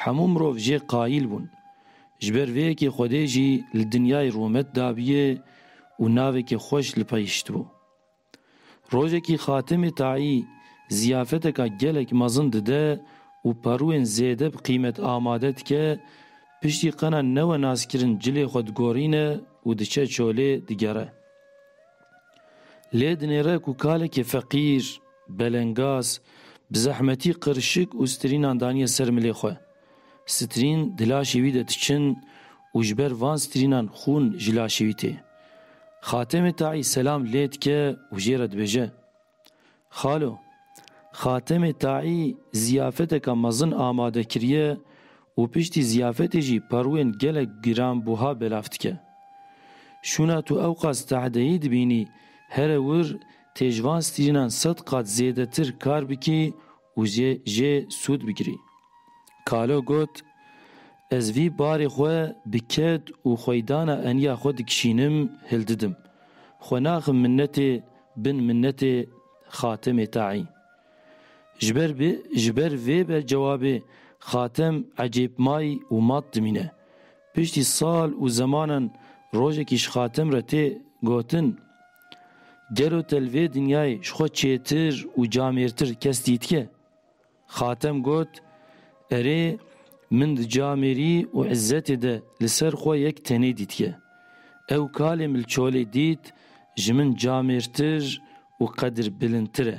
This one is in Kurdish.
Hemû mirov jê qayîl bûn. Ji ber vê yekê Xwedê jî li dinyayê rûmet dabûye û navekî xweş li pey hiştibû. Rojekî Xatimê Taî ziyafeteka gelek mezin dide û perûyên zêde bi qîmet amade dike, piştî qena newe naskirin cilê xwe digorîne û diçe çolê digere. Lê dinêre ku kalekî feqîr, belengaz, bi zehmetî qirşik û strînan daniye ser milê xwe. Strîn di laşê wî de diçin û ji ber van strînan xûn ji laşê wî tê. Xatemê Taî selam lê dike û jê re dibêje. Xalo, Xatemê Taî ziyafeteke mezin amade kiriye û piştî ziyafetê jî perwên gelek giranbuha belav dike. Şûna tu ewqas tahdeyî dibînî here wir tê ji van strînan sed qat zêdetir kar bikî û jê sûd bigirî. Kalo got, Ez vî barê xwe bi ked û xweydana eniya xwe dikişînim hildidim. Xwe naxim minnetê Bin minnetê Xatemê taî. Ji ber bi ji ber vê be cewabê Xatem ecêb may û mat dimîne. Piştî sal û zemanan rojekî ji Xatem re tê gotin, Gelo te li vê dinyayê ji xwe çêtir û camêrtir kes dîtike? Xatem got, Erê, min di camêrî û îzzetê de li ser xwe yek tenê dîtiye. Ew kalê milçolê dît ji min camêrtir û qedir bilindtir e.